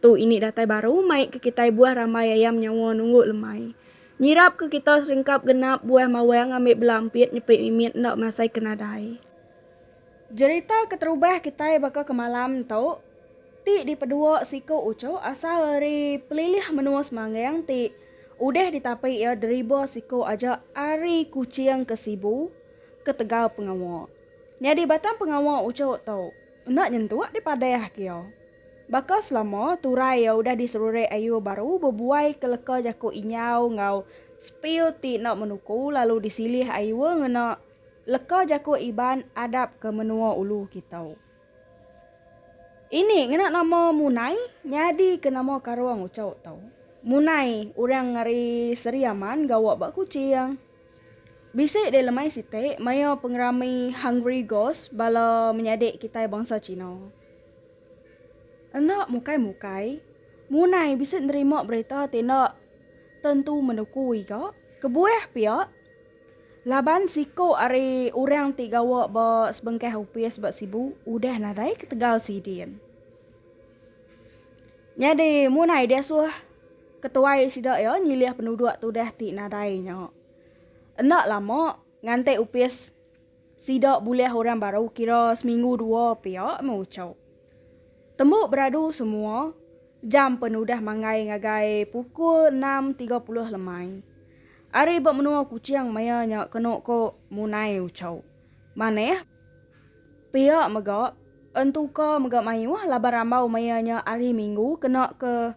Tu ini datai baru mai ke kitai buah rambai ayam nyawa nunggu lemai. Nyirap ke kita seringkap genap buah mawang ambi bela ampit nyepi mimit enda masai ke nadai. Jerita keterubah kitai baka ke malam tu ti dipedua siku uchuh asal ari pelilih menua Semanggang ti udah ditapi iya deriba siku aja ari Kuching ke Sibu ketegal pengawa. Nyadi batang pengawa uchuh tu enda nyentuk dipadah ke iya. Baka selama, turai iya udah diserurek ayu baru bebuai ke leka jaku inyau enggau spil ti enda menuku lalu disilih ayu ngena leka jaku Iban adap ke menua ulu kitu. Ini ngena nama Munai nyadi ke nama karung uchu tu. Munai orang ari Seri Aman gawa ba Kuching. Bisi deh lemai siti maya pengerami Hungry Ghost bala menyadi kitai bangsa China. Enda mukai-mukai, munai bisi nerima berita ti enda tentu menukui ga, kebuah pia laban siku ari orang ti gawa ba sebengkah opis ba Sibu udah nadai ketegal sidin. Nyadi munai diasuh ketuai sida iya nyilih penuduk tudah ti nadai nya. Enda lama nganti opis. Sida bulih orang baru kira seminggu dua pia meh uchu. Tembu beradu semua, jam pen udah manggai ngagai pukul enam tiga puluh lemai. Ari ba menua Kuching maya nya kenu ku munai uchu. Manah pia mega entuka mega mayuh laban rambau maya nya ari minggu kena ke.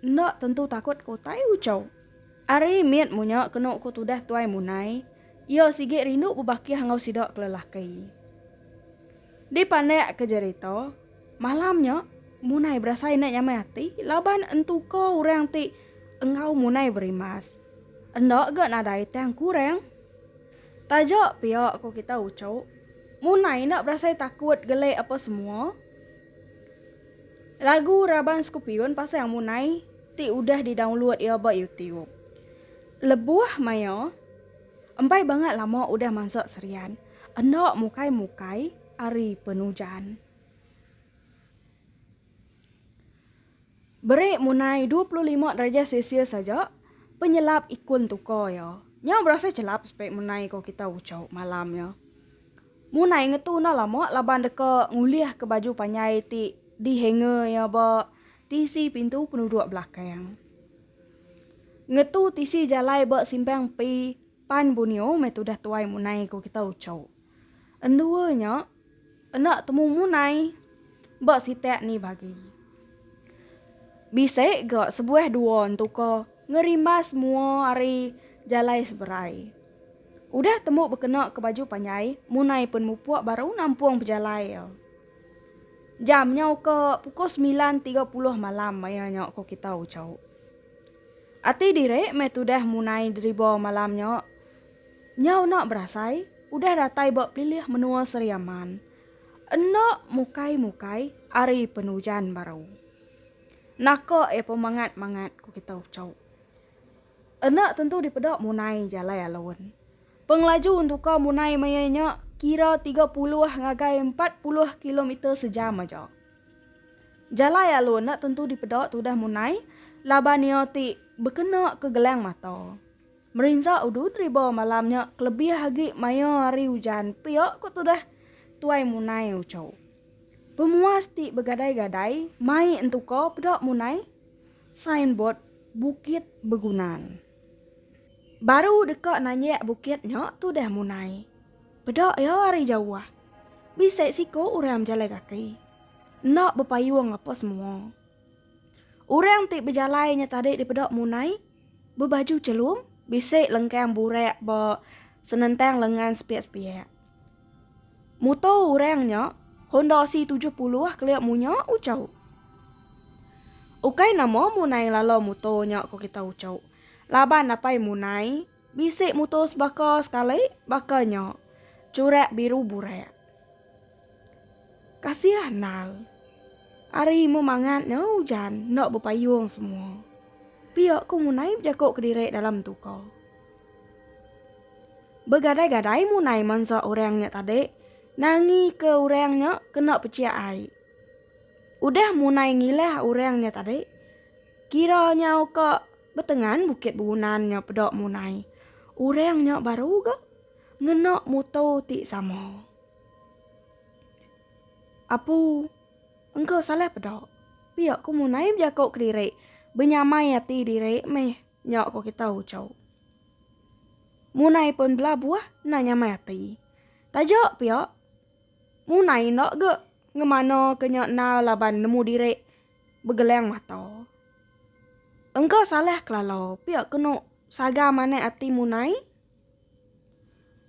Enda tentu takut ko utai ucau. Ari mit munya kenu ko tudah tuai munai, iya sigi rindu bebakih enggau sida ke lelaki. Dipandak ke jerita, malam nya munai berasai enda nyamai ati laban entuka orang ti enggau munai berimbas. Enda ga nadai tang kurang. Taja pia ko kita ucau, munai enda berasai takut gele apa semua. Lagu raban Scorpion pasang munai ti udah di download iya ba YouTube. Lebuh maya, empai bangat lama udah mansa serian enda mukai-mukai ari penujan. Beri munai dua puluh lima darjah celsius aja penyelap ikun tuka iya. Nya berasai chelap spek munai ko kita ucho malam nya. Mun ai ngetu enda lama laban deka ngulihka baju panjai ti dihanger iya ba tisi pintu penuduk belakang. Ngetu tisi jalai ba simpang empi pan Borneo meh tudah tuai mun ai ku kita uchu. Endua nya enda temu mun ai ba sitak ni bagi. Bisi ga sebuah dua entuka ngerimbas mua ari jalai seberai. Udah tembu bekena ke baju panjai, Munai pen mupuk baru nampung pejalai iya. Jam nyau ke pukul semilan tiga puluh malam maya nya ko kita ucau. Ati diri meh tudah Munai deriba malam nya. Nyau enda berasai, udah datai ba pelilih menua Seri Aman. Enda mukai-mukai ari pen ujan baru. Naka iya pemangat-mangat ko kita ucau. Enda tentu dipeda munai jalai alun. Pengelaju untuka munai maya nya kira tiga puluh ngagai empat puluh kilometer sejam aja. Jalai alun enda tentu dipeda tudah munai laban iya ti bekena ke gelang mata. Merinsa udud riba malam nya kelebih agi maya hari ujan pia ku tudah Tuai Munai Ucho. Pemuas ti begadai-gadai mai entuka peda munai Signboard Bukit Begunan. Baru deka nanjak bukit nya tudah munai. Peda iya ari jauh. Bisi siku orang bejalai kaki. Enda bepayung apa semua. Orang ti bejalai nya tadi dipeda munai bebaju chelum bisi lengkang burak ba senentang lengan sepiak-sepiak. Muto urang nya Honda C tujuh puluh kelia munya ucau. Ukai nama munai lala muto nya ko kita ucau. Laban napai munai bisi muto sebaka sekali baka nya curak biru burak. Kasih andal. Ari mu mangat nya ujan enda bepayung semua. Pia ko munai bejako kediri dalam tuka. Begadai-gadai munai mansa orang nya tadi nangi ke orang nya kena peciak ai. Udah munai ngilah orang nya tadi, kira nyau ke betengan bukit begunan nya peda munai. Orang nya baru ga ngena muto ti sama. Apu engka salah peda. Pia ku munai bejako kediri benyamai ati diri meh. Nya ko kita ucau. Munai pun bela buah enda nyamai ati. Taja pia, munai enda ga ngemanaka nya enal laban nemu diri begelang mata. Engka salah kelala pia kenu saga manah ati munai.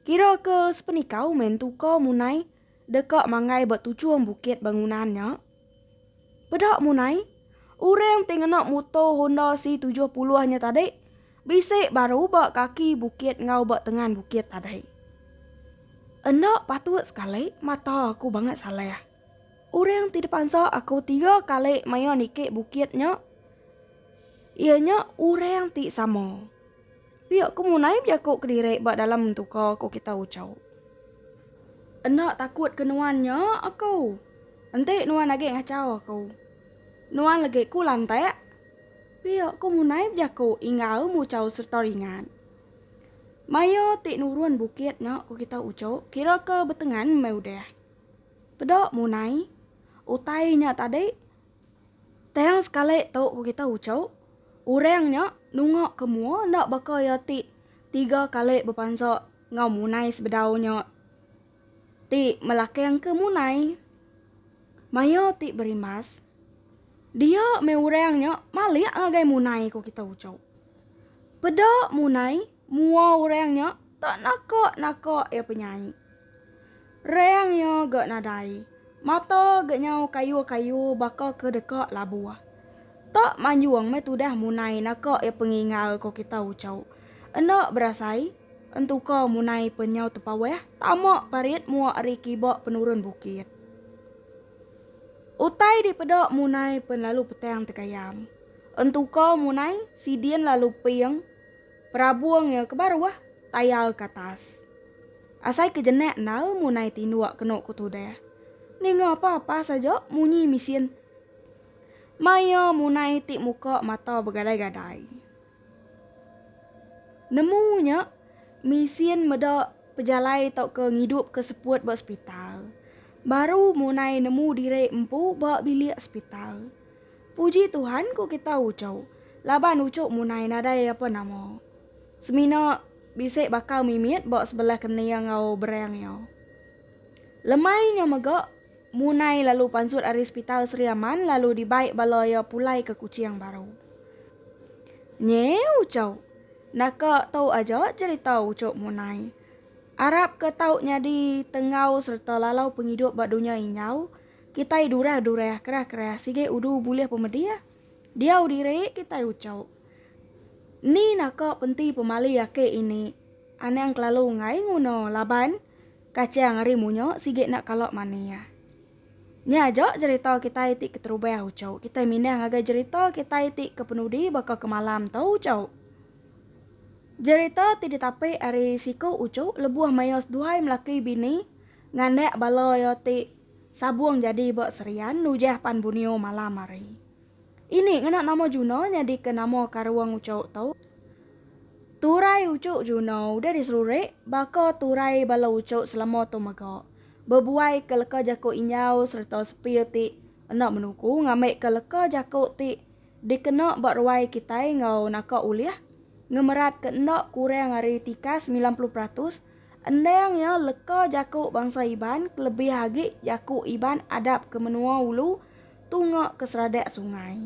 Kira ke sepenikau mentu ka munai deka manggai ba tuchung bukit bangunan nya. Peda munai, orang ti ngena muto Honda C70 nya tadi bisi baru ba kaki bukit enggau ba tengan bukit tadi. Enda patut sekali mata aku bangat salah. Orang ti dipansa aku tiga kali maya niki bukit nya iya nya orang ti sama. Pia ku munai bejaku kediri ba dalam mentuka ku kita Uchau. Enda takut ke nuan nya aku. Enti nuan agi ngachau aku. Nuan legi ku lantak. Pia ku munai bejaku Inggau Muchau sereta ringat. Maya ti nurun bukit nya ku kita Uchu kira ke betengan meh udah. Peda munai. Utai nya tadi Tang sekali tu ku kita uchu, orang nya nunga ke mua enda baka iya ti tiga kali bepansa enggau munai sebedau nya ti melakangka munai. Maya ti berimbas, dia meh orang nya malik ngagai munai ku kita uchu. Peda munai Mua orang nya tak naka-naka iya penyai. Rang iya ga nadai, mata ga nyau kayu-kayu baka ke deka labuh. Tak manjung meh tudah munai naka iya pengingau ko kita Ucho. Enda berasai, entuka munai pen nyau tepawah tama parit mua ari kiba penurun bukit. Utai dipeda munai pen lalu petang tegayam. Entuka munai sidin lalu ping. Perabung iya ke baruh tayal ke atas. Asai ke jenak endar munai tinduk kenu ku tudah. Ninga apa-apa saja munyi misin. Maya munai ti muka mata begadai-gadai. Nemu nya misin meda pejalai tauka ngidup ke seput ba sepital. Baru munai nemu diri empu ba bilik sepital. Puji Tuhan ku kita ucuk laban ucuk munai nadai apa nama. Semina bisi bakal mimit ba sebelah kening enggau berang iya. Lemai nya mega munai lalu pansut ari sepital Sri Aman lalu dibai bala iya pulai ke Kuching baru. Nyi ucuk naka tu aja cherita ucuk munai. Arap ke tau nyadi tenggau serta lalau pengidup ba dunya injau. Kitai durah durah kerah kerah sigai udu bulih pemedih. Diau diri kitai ucau. Ni naka penti pemali aki ini anang kelalu ngai nguna laban kachang ari munya sigai enda kala manih. Nya aja jerita kitai ti keterubah ucau. Kitai mindah ngagai jerita kitai ti ke penudi baka ke malam tu ucau. Jerita ti ditapi ari siku ucau lebuh maya seduai melaki bini nganak bala iya ti Sabung jadi ba Serian nujah pan Bunio malam hari. Ini ngena nama Juno nyadika nama karung ucuk tu. Turai ucuk Juno udah diserurik baka turai bala ucuk selama tu mega, bebuaika leka jaku Injau sereta Sepil ti enda menuku ngambika leka jaku ti dikena ba ruai kitai enggau naka ulih ngemeratka enda kurang ari tikas semilan puluh peratus Endang iya leka jaku bangsa Iban kelebih agi jaku Iban adap ke menua ulu tunga ke seradak sungai.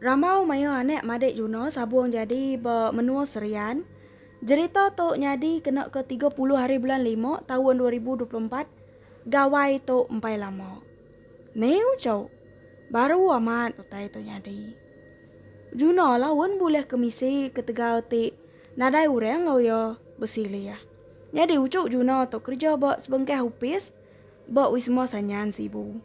Rambau maya anak madik Juna sabung jadi ba menua Serian. Jerita tu nyadi kena ke tiga puluh hari bulan lima taun dua ribu dua puluh empat gawai tu empai lama. Niu cu, baru amat utai tu nyadi. Juna la un bulih ke misi ketegal ti Nadai orang enggau iya besilih. Nyadi uchu Juna tu kereja ba sebengkah opis ba Wisma Sanyan Sibu.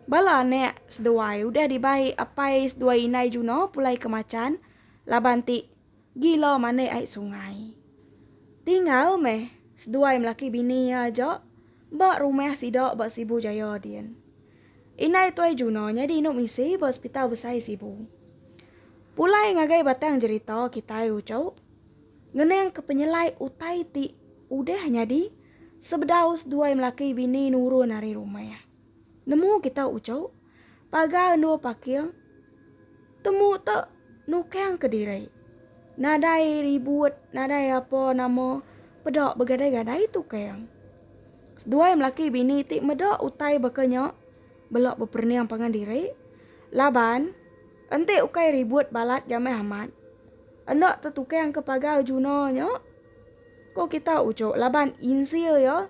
Bala anak seduai udah dibai apai seduai indai Juna pulai ke Machan laban ti gila manik ai sungai. Tinggal meh seduai melaki bini iya aja ba rumah sida ba Sibu Jaya din. Indai Tuai Juno nyadi indu misi ba Hospital Besai Sibu. Pulai ngagai batang jerita kitai uchu ngeningka penyelai utai ti udah nyadi sebedau seduai melaki bini nurun ari rumah. Nemu kita uchu pagar endur paking temu tu nukangka diri nadai ribut nadai apa nama peda begadai-gadai tukang. Seduai melaki bini ti meda utai baka nya bela beperening pangan diri laban enti ukai ribut balat jamai amat enda tetukangka pagar juna nya ko kita uchu laban insil iya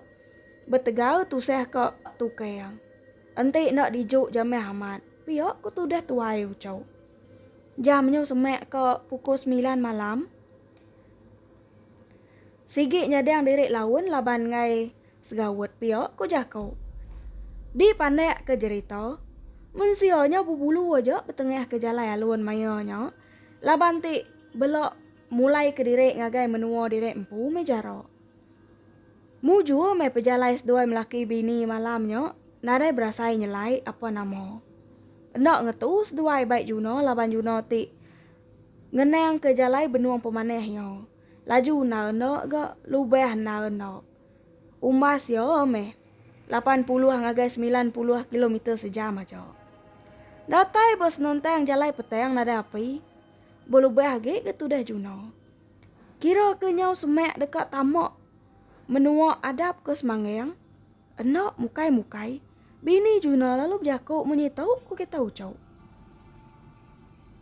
betegal tusah ka tukang enti enda diju jamai amat pia ko tudah tuai uchu. Jam nyu semak ka pukul semilan malam. Sigi nyadang diri laun laban enggai segaut pia, ku jaku. Dipandak ke jerita, mensia nya bebulu aja betengah ke jalai alun maya nya laban ti bela mulai ke diri ngagai menua diri empu meh jara. Mujur meh pejalai seduai melaki bini malam nya nadai berasai nyelai apa nama. Enda ngetu seduai bai Juna laban Juna ti Ngenangka jalai benung pemanah iya. Laju enda enda ga lubah enda enda. Umbas iya meh lapan puluh ngagai semilan puluh kilometer sejam aja. Datai ba senentang jalai petang nadai api, belubah agi ga tudah juna. Kira ke nyau semak deka tama menua adap ke Semanggang. Enda mukai-mukai, bini Juna lalu bejaku munyi tu ku kita uchu.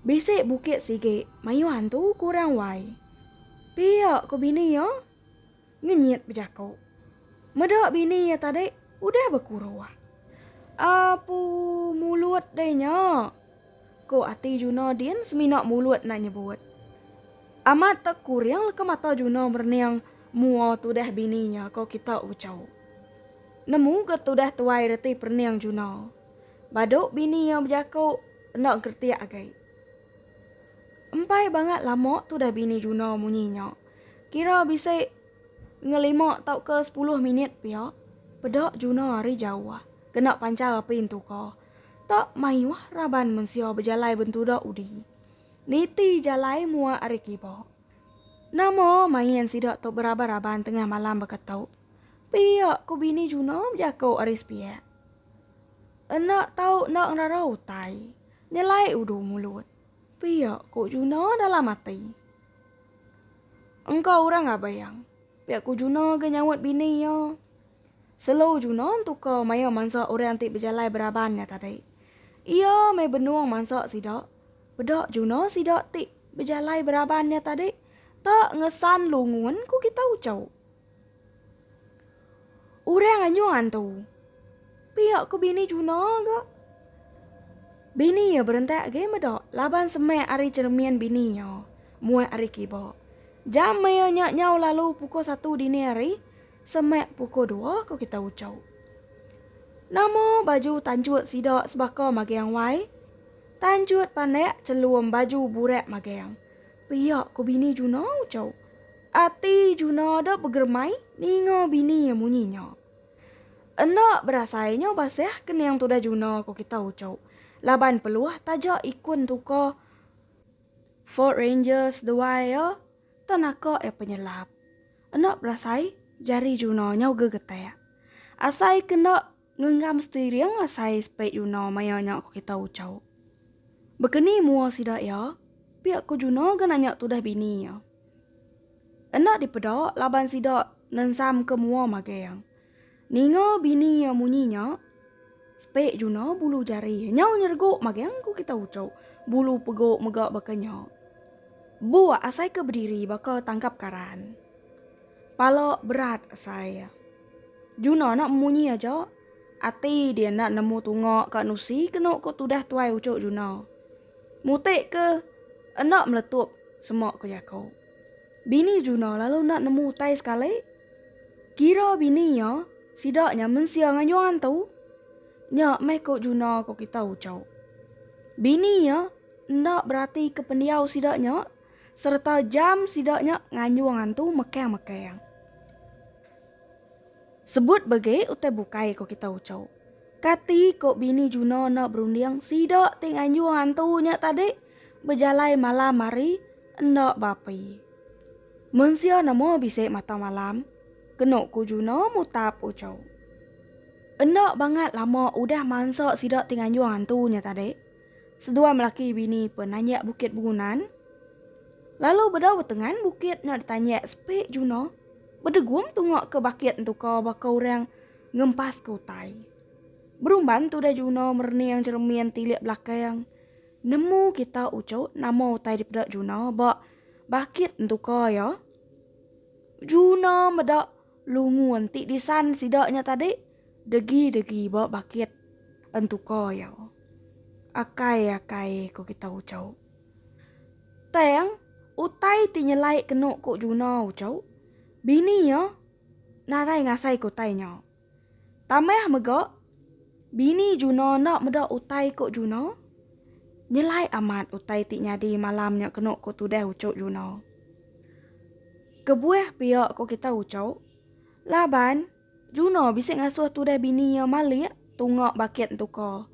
Bisi bukit sigi mayuh antu ku orang wai. Pia ku bini iya ngenyit bejaku. Meda bini iya tadi udah bekuruh. Apu mulut deh nya. Ko ati Juno din semina mulut enda nyebut. Amat te kuring leka mata Juno merening mua tudah bini nya ko kita Ucau. Nemu ga tudah tuai reti perening Juno. Badu bini iya bejaku enda engkeretik agai. Empai bangat lama tudah bini Juno munyi nya. Kira bisi ngelima tauka sepuluh minit pia peda Juno ari jauh kena panchar api entuka. Tau mayuh raban mensia bejalai bentuda udi. Niti jalai mua ari kiba. Nama main sida tu beraban-raban tengah malam baka tu? Pia ku bini Juna bejako ari sepiak. Enda tau enda ngerara utai. Nyelai udu mulut. Pia ku Juna dalam ati. Engka orang abang. Pia ku Juna ga nyaut bini iya. Selo Juna entuka maya mansa orang ti bejalai beraban nya tadi. Iya meh benung mansa sida. Peda Juna sida ti bejalai beraban nya tadi, ta ngesan lungun ku kita uchu. Orang anyung antu. Pia ku bini Juna ga. Bini iya berentak agi meda laban semak ari cheremin bini iya muat ari kiba. Jam maya nya nyau lalu pukul satu dini hari. Semak puku dua ku kita ucau. Nama baju tanjut sida sebaka magang wai? Tanjut panak celum baju burak magang. Pia ku bini Juna ucau. Ati Juna da begeremai ninga bini iya munyi nya. Enda berasai nya basah kening tudah Juna ku kita ucau laban peluh taja ikun tuka Ford Ranger seduai iya Tau naka iya penyelap. Enda berasai jari Juna nyau gegetak. Asai ke enda ngenggam steering asai speed Juna maya nya ku kita ucau. Bekeni mua sida iya? pia ku Juna ga nanya tudah bini iya. Enda dipeda laban sida nensamka mua magang. Ninga bini iya munyi nya, Spek Juna bulu jari iya nyau nyeregok magang ku kita ucok. Bulu pegok mega baka nya. Buk asai ke bediri baka tangkap karan. Pala berat asai iya. Juna enda munyi aja, ati dia enda nemu tunga ka nusi kenu ku tudah tuai ucok Juna. Mutek ke enda meletup semak ku jako. Bini Juna lalu enda nemu utai sekali. Kira bini iya, sida nya mensia ngayuh antu. Nya meh ko Juna ko kita ucau. Bini iya enda beratika pendiau sida nya sereta jam sida nya ngayuh antu mekang-mekang. Sebut bege utai bukai ko kita ucau. Kati ko bini Juno enda berunding sida ti nganjung hantu nya tadi bejalai malam hari enda beapi. Mensia nemu bisi mata malam, kenu ku Juno mutap uchu. Enda bangat lama udah mansa sida ti nganjung hantu nya tadi, seduai melaki bini pen nanjak Bukit Bengunan. Lalu bedau betengan bukit nya ditanjak sepi Juno bedegum tunga ke bakit entuka baka orang Ngempas ke utai. Berumban tu udah Juno merening jeremin tilik belakang. Nemu kita uchu nama utai dipeda Juno ba bakit entuka iya. Juno meda lungu enti disan sida nya tadi degi-degi ba bakit entuka iya. Akai-akai ku kita uchu. Tang utai ti nyelai kenu ku Juno uchu, bini iya. Nadai ngasai ke utai nya. Tambah mega, bini Juna enda meda utai ku Juna. Nyelai amat utai ti nyadi malam nya kenu ku tudah uchu Juna. Kebuah pia ku kita uchu, laban Juna bisi ngasuh tudah bini iya malik tunga bakit entuka.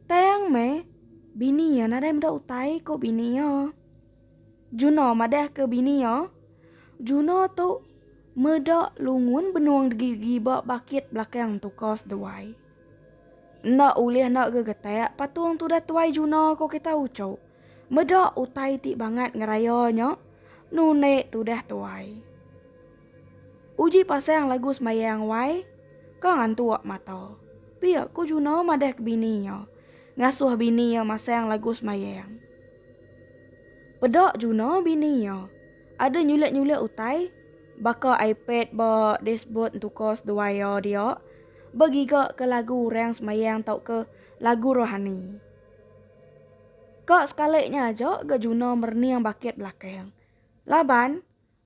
Tang meh, bini iya nadai meda utai ku bini iya. Juno madahka bini iya, Juno tu meda lungun benung degigi ba bakit belakang tuka seduai. Enda ulih enda gegetak patung tudah tuai Juno ko kita uchu. Meda utai ti bangat ngeraya nya nundi tudah tuai. Uji pasang lagu sembayang wai ka ngantuk mata. Pia ko Juno madahka bini iya, ngasuh bini iya masang lagu sembayang. Peda Juna bini iya. Ada nyulit-nyulit utai baka iPad ba dashboard entuka seduai iya dia begigaka lagu orang semayang tauka lagu rohani. Ka sekali nya aja ga Juna merening bakit belakang. Laban.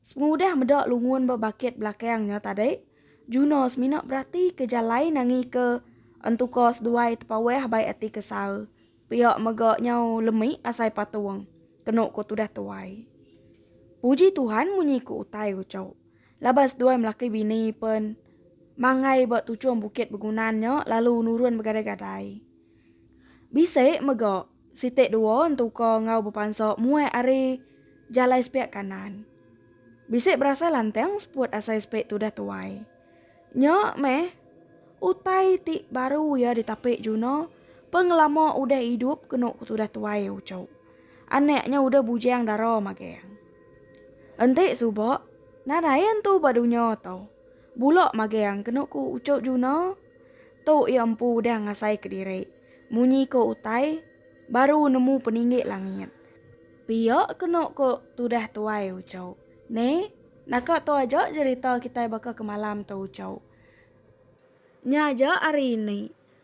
Sengudah meda lungun ba bakit belakang nya tadi, Juno semina beratika jalai nangika entuka seduai tepawah bai ati kesal. Pia mega nyau lemi asai patung, kenu ku tudah tuai. Puji Tuhan munyi ku utai uchu. Laban seduai melaki bini pen manggai ba tuchung bukit begunan nya lalu nurun begadai-gadai. Bisi mega siti dua entuka enggau bepansa muai ari jalai sepiak kanan. Bisi berasai lantang seput asai sepi tudah tuai. Nya meh utai ti baru iya ditapi Juna pengelama udah idup kenu ku tudah tuai Ucho. Anak nya udah bujang dara magang. Enti suba, nadai entu ba dunya tu. Bulok magang kenu ku uco Juno tu iya empu udah ngasai ke diri munyi ko utai baru nemu peninggi langit. Pia kenu ko tudah tuai uco. Ne naka tu aja jerita kitai baka ke malam tu uco. Nya aja ari ini